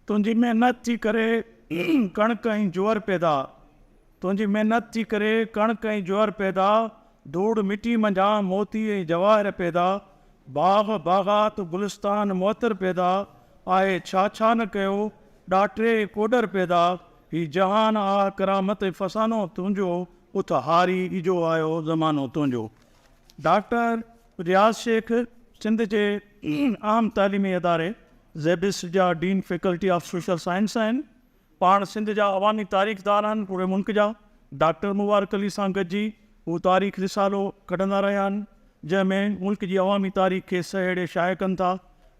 تنهنجي محنت جي ڪري ڪڻڪ ۽ جوئر پيدا، تنهنجي محنت جي ڪري ڪڻڪ ۽ جوئر پيدا، ڌوڙ مٽي منجهان موتي ۽ جواهر پيدا، باغ باغات گلستان معطر پيدا، آء ڇا ڇا نه ڪيو، ڏاٽري ڪوڏر پيدا، هي جهان آ ڪرامت ۽ فسانو تنهنجو، اٿ هاري اجهو آيو زمانو تنهنجو. ڊاڪٽر. رياض شيخ سنڌ جي اهم تعليمي اداري زيبس جا dean faculty of social science آهن. پاڻ سنڌ جا عوامي تاريخدان آهن. پوري ملڪ جا ڊاڪٽر مبارڪ علي سان گڏجي هو تاريخ رسالو ڪڍندا رهيا آهن، جنهن ۾ ملڪ جي عوامي تاريخ کي سهيڙي شايع ڪن ٿا.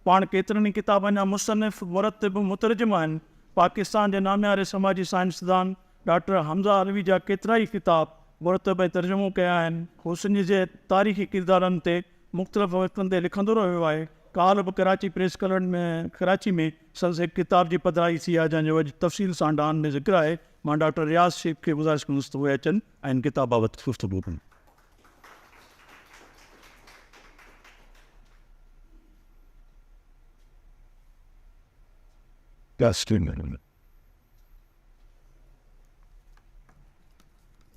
پاڻ ڪيترن ئي ڪتابن جا مصنف، مرتب، مترجم آهن. پاڪستان جي نامياري سماجي سائنسدان. ڊاڪٽر حمزه علوي جا ڪيترائي ڪتاب مرتب ۽ ترجمو ڪيا آهن. هو سنڌ جي تاريخي ڪردارن تي مختلف وقتن تي لکندو رهيو آهي. ڪالهه به ڪراچي پريس ڪلب ۾ ڪراچي ۾ سندس هڪ ڪتاب جي پڌرائي ٿي آهي جنهن جو اڄ تفصيل سان ڊان ۾ ذڪر آهي. مان ڊاڪٽر رياض شيخ کي گذارش ڪندس ته اهي اچن ۽ هن ڪتاب بابت گفتگو ڪن.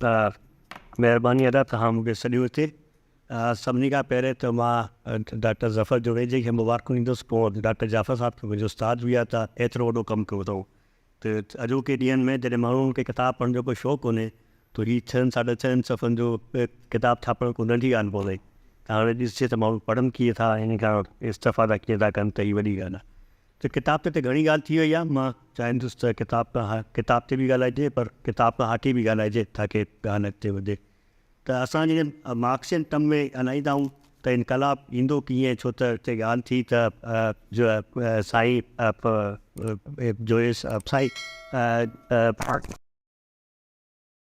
مھرباني ادا توھان مون کي سڏيو ھتي. سڀني کان پهرين ته مان ڊاڪٽر ظفر جوڻيجي کي مبارڪون ڏيندس، پوء ڊاڪٽر جعفر صاحب کي منهنجو استاد به يا ته ايترو وڏو ڪم ڪيو اٿئون ته اڄوڪي ڏينهن ۾ جڏهن ماڻهن کي ڪتاب پڙهڻ جو ڪو شوق ڪونهي ته هي ڇهن ساڍا ڇهن صفحن جو ڪتاب ڇاپڻ ڪو ننڍي ڳالهه ڪونهي ته هاڻي ڏسجي ته ماڻهو پڙهن ڪيئن ٿا ۽ ان کان استفادا ڪيئن ٿا ڪن ته هي وڏي ڳالهه آهي. ته ڪتاب تي ته گهڻي ڳالهه ٿي وئي آهي، مان چاهيندس ته ڪتاب کان ها ڪتاب تي به ڳالهائجي پر ڪتاب کان هاڪي به ڳالهائجي تاڪي ڳالهه اڳتي وڌي ته اسان جڏهن مارڪسين ٽرم ۾ ڳالهائيندا آهيون ته انقلاب ايندو ڪيئن ڇو ته هتي ڳالهه ٿي ته جو سائين جو سائين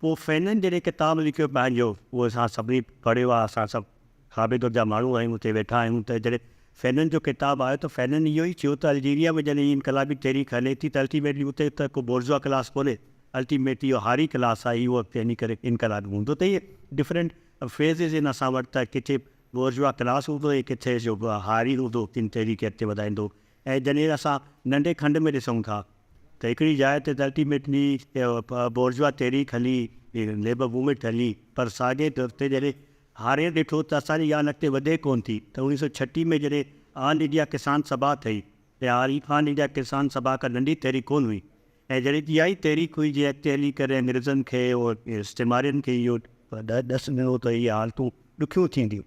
پوء فينن جڏهن ڪتاب لکيو پنهنجو، اهو اسان سڀني پڙهيو آهي، اسان سڀ کاٻي ڌر جا ماڻهو آهيون، اتي ويٺا آهيون ته جڏهن فينن جو ڪتاب آيو ته فينن اهو ئي چيو ته الجيريا ۾ جڏهن هي انقلابي تحريڪ هلي ٿي ته الٽيميٽلي اتي ته ڪو بورزوا ڪلاس ڪونهي، الٽيميٽلي اهو هاري ڪلاس آهي، اهو اڳتي هلي ڪري انقلابي هوندو ته اهي ڊفرنٽ فيزز آهن اسان وٽ ته ڪٿي بورزوا ڪلاس هوندو ۽ ڪٿي جو هاري هوندو، ڪن تحريڪ اڳتي وڌائيندو، ۽ جڏهن اسان ننڍي کنڊ ۾ ڏسون ٿا ته هڪڙي جاء تي الٽي ميٽلي بورجوا تحريڪ هلي، ليبر موومينٽ هلي پر ساڳئي در تي جڏهن هارين ڏٺو ته اسان جي ڄاڻ اڳتي وڌي ڪونه ٿي ته اڻويهه سؤ ڇٽيهه ۾ جڏهن آل انڊيا ڪسان سڀا ٺهي اها آل انڊيا ڪسان سڀا ڪا ننڍي تحريڪ ڪونه هئي ۽ جڏهن اها ئي تحريڪ هئي جنهن اڳتي هلي ڪري انگريزن کي استعمارين کي اهو ڏس ڏنو ته اهي حالتون ڏکيون ٿينديون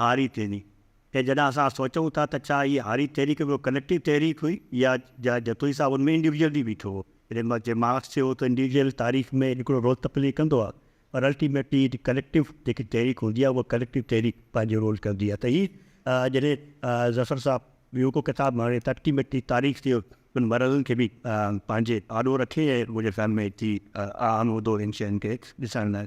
هاري تحريڪ ۽ جڏهن اسان سوچون ٿا ته ڇا هي هاري تحريڪ هڪڙو ڪليڪٽو تحريڪ هئي يا جا جتوئي صاحب ان ۾ انڊيوڊيوئل به بيٺو هو جڏهن ما جي مارڪس چيو هو ته انڊيوڊيوئل تاريخ ۾ هڪڙو رول ته پلي ڪندو آهي پر الٽيميٽلي ڪليڪٽو جيڪي تحريڪ هوندي آهي اها ڪليڪٽو تحريڪ پنهنجو رول ڪندي آهي ته هي جڏهن ظفر صاحب ٻيو ڪو ڪتاب هڻي ته الٽيميٽلي تاريخ جي انهن مرحلن کي به پنهنجي آڏو رکي ۽ منهنجي خيال ۾ هي اهم هوندو انهن شين کي ڏسڻ لاء.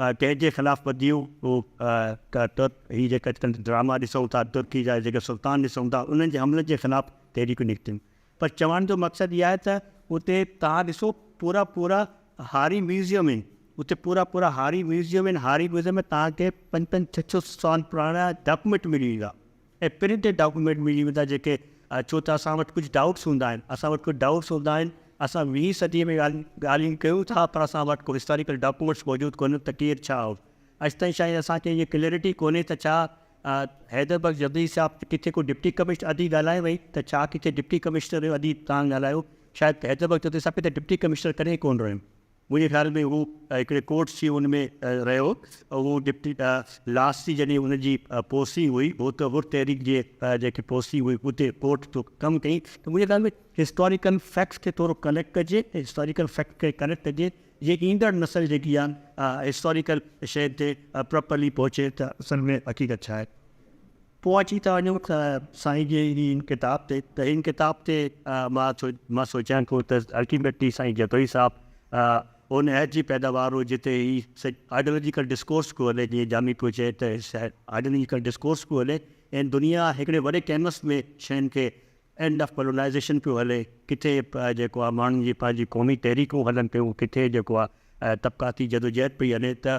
ڪنهن جي خلاف بديون ترڪ هي جيڪي اڄڪلهه ڊراما ڏسون ٿا ترڪي جا جيڪي سلطان ڏسون ٿا انهن جي حملن جي خلاف تحريڪون نڪتيون پر چوڻ جو مقصد اهي آهي ته اتي توهان ڏسو پورا پورا هاري ميوزيم آهن اتي پورا پورا هاري ميوزيم آهن هاري ميوزيم ۾ توهان کي پنج پنج ڇهه ڇهه سال پراڻا ڊاڪومينٽ ملي ويندا. ۽ پرنٽيڊ ڊاڪيومينٽ ملي ويندا جيڪي ڇو ته اسان وٽ ڪجهه ڊائوٽس هوندا آهن اسان وٽ ڪجهه ڊائوٽس هوندا آهن اسان ويهين صدي ۾ ڳالهيون ڪيون ٿا پر اسان وٽ ڪو هسٽاريڪل ڊاڪيومينٽس موجود ڪونهن ته ڪير ڇا هو اڄ تائين شايد اسان کي اها ڪليئرٽي ڪونهي ته ڇا حيدر بخش جبلي صاحب ڪٿي ڪو ڊپٽي ڪمشنر ادي ڳالهائي وئي ته ڇا ڪٿي ڊپٽي ڪمشنر رهيو ادي تان ڳالهايو شايد حيدر بخش جبلي صاحب ڪٿي ڊپٽي ڪمشنر ڪڏهن ڪونه رهيو منهنجي خيال ۾ هو هڪڙي ڪورٽس جي ان ۾ رهيو هو هو ڊپٽي لاس جي جڏهن ان جي پوسٽنگ هئي هو ته حر تحريڪ جي جيڪي پوسٽنگ هئي اتي ڪورٽ جو ڪم ڪئي ته منهنجي خيال ۾ هسٽاريڪل فيڪٽس کي ٿورو ڪليڪٽ ڪجي ۽ هسٽاريڪل فيڪٽس کي ڪليڪٽ ڪجي جيئن ايندڙ نسل جيڪي آ هسٽاريڪل شين تي پراپرلي پهچي ته اصل ۾ حقيقت ڇا آهي. پوء اچي ٿا وڃون سائين جي هن ڪتاب تي ته هن ڪتاب تي مان سوچيان ٿو ته الٽيميٽلي سائين جتوئي صاحب ان عهد جي پيداوار هو جتي هي آئيڊيالاجيڪل ڊسڪورس پيو هلي جيئن جامي پيو چئي ته آئيڊيالاجيڪل ڊسڪورس پيو هلي ۽ دنيا هڪڙي وڏي ڪينوس ۾ شين کي اينڊ آف ڪولونائيزيشن پيو هلي ڪٿي جيڪو آهي ماڻهن جي پنهنجي قومي تحريڪون هلن پيون ڪٿي جيڪو آهي طبقاتي جدوجهد پئي هلي ته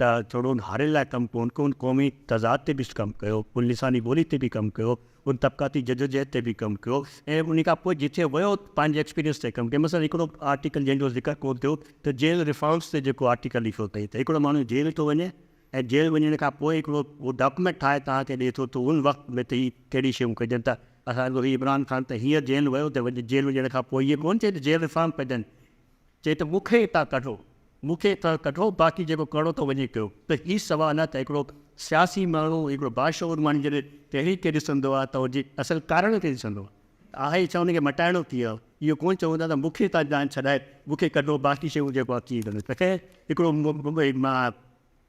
ته ٿورو ان هارين لاء ڪم ڪون ڪيو، ان قومي تضاد تي به ڪم ڪيو، ان لساني ٻولي تي به ڪم ڪيو، ان طبقاتي جدوجهد تي به ڪم ڪيو ۽ ان کان پوء جتي ويو پنهنجي ايڪسپيرينس تي ڪم ڪيو. مثلا هڪڙو آرٽيڪل جنهن جو ذڪر ڪون ٿيو ته جيل ريفارمز تي جيڪو آرٽيڪل لکيو اٿئي ته هڪڙو ماڻهو جيل ٿو وڃي ۽ جيل وڃڻ کان پوء هڪڙو هو ڊاڪيومينٽ ٺاهي توهان کي ڏئي ٿو ته ان وقت ۾ ته هي ڪهڙي شيون ڪجن ته اسان جو هي عمران خان ته هينئر جيل ويو ته جيل وڃڻ کان پوء هيء ڪون چئي ته جيل ريفارم ڪجن، چي ته مون کي اتان ڪڍو، مون کي اتان ڪڍو باقي جيڪو ڪرڻو ٿو وڃي ڪيو ته هي سوال آهي ته هڪڙو سياسي ماڻهو، هڪڙو باشعور ماڻهو جڏهن تحريڪ کي ڏسندو آهي ته ان جي اصل ڪارڻ کي ڏسندو آهي آهي ڇا ان کي مٽائڻو ڪيئن آهي اهو ڪونه چون ٿا ته مون کي اتان جان ڇڏائي مون کي ڪڍو باقي شيون جيڪو آهي ڪيئن ڪندو ته خير هڪڙو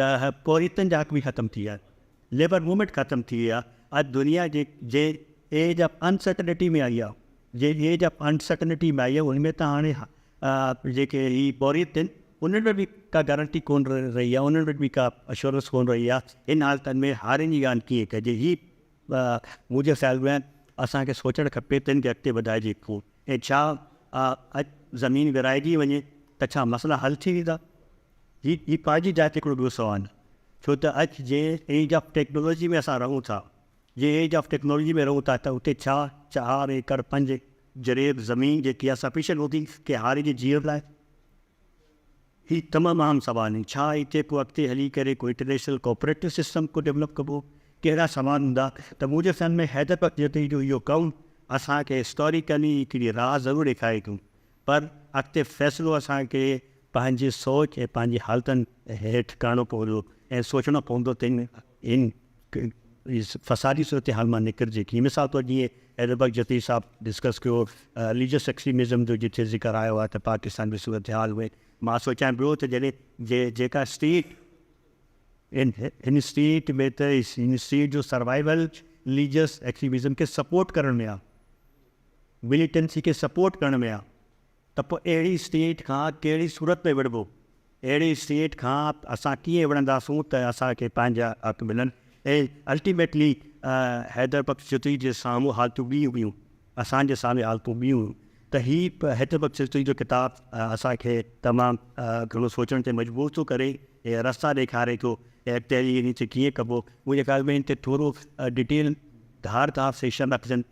ته پورهيتن جا حق به ختم ٿي ويا، ليبر موومينٽ ختم ٿي وئي آهي، اڄ دنيا جي جي ايج آف انسرٽنٽي ۾ آئي آهي، جي ايج آف انسرٽنٽي ۾ آئي آهي ان ۾ ته هاڻي جيڪي هي پورهيت آهن انهن ۾ به ڪا گارنٽي ڪونه رهي آهي، انهن وٽ به ڪا اشورنس ڪونه رهي آهي، هن حالتن ۾ هارين جي ڳالهه ڪيئن ڪجي، هي منهنجي خيال ۾ اسان کي سوچڻ کپي ته هن کي اڳتي وڌائجي ڪيئن ۽ ڇا اڄ زمين ورهائجي وڃي ته ڇا مسئلا حل ٿي ويندا؟ هي هي پنهنجي جاء تي هڪڙو ٻيو سوال آهي ڇو ته اڄ جي ايج آف ٽيڪنالاجي ۾ اسان رهون ٿا جي ايج آف ٽيڪنالاجي ۾ رهون ٿا ته اتي ڇا چار ايڪڙ پنج جريب زمين جيڪي آهي سفيشنٽ هوندي ڪنهن هاري جي جيئڻ لاء هي تمام اهم سوال آهن ڇا هتي ڪو اڳتي هلي ڪري ڪو انٽرنيشنل ڪوپريٽو سسٽم ڪو ڊيولپ ڪبو ڪهڙا سوال هوندا ته منهنجي خيال ۾ حيدر بخش جتوئي جو اهو ڪم اسان کي هسٽوريڪلي هڪڙي راهه ضرور ڏيکاري ٿو پر اڳتي فيصلو اسان کي پنهنجي سوچ ۽ پنهنجي حالتن هيٺ ڪرڻو پوندو ۽ سوچڻو پوندو ته ان فسادي صورتحال مان نڪرجي ڪيئن. مثال طور جيئن ايڊوبڪر جتيء صاحب ڊسڪس ڪيو رليجس ايڪسٽريمزم جو جتي ذڪر آيو آهي ته پاڪستان جي صورتحال ۾ مان سوچيان پيو ته جڏهن جيڪا اسٽيٽ ان ان اسٽيٽ ۾ ته ان اسٽيٽ جو سروائيول رليجس ايڪسٽريمزم کي سپورٽ ڪرڻ ۾ آهي. مليٽنسي کي سپورٽ ڪرڻ ۾ آ ته پوء اهڙي اسٽيٽ کان ڪهڙي صورت ۾ وڙهبو؟ اهڙي اسٽيٽ کان اسان ڪيئن وڙهنداسون ته اسان کي پنهنجا حق ملن ۽ الٽيميٽلي حيدر بخش جتوئي جي سامهون حالتون ٻيون هيون، اسان جي سامهون حالتون ٻيون هيون ته هي حيدر بخش جتوئي جو ڪتاب اسان کي تمام گهڻو سوچڻ تي مجبور ٿو ڪري ۽ رستا ڏيکاري ٿو ته اڳتي هلي انهن کي ڪيئن ڪبو؟ منهنجي خيال ۾ ان تي ٿورو ڊٽيل ڌار ڌار سيشن رکجن.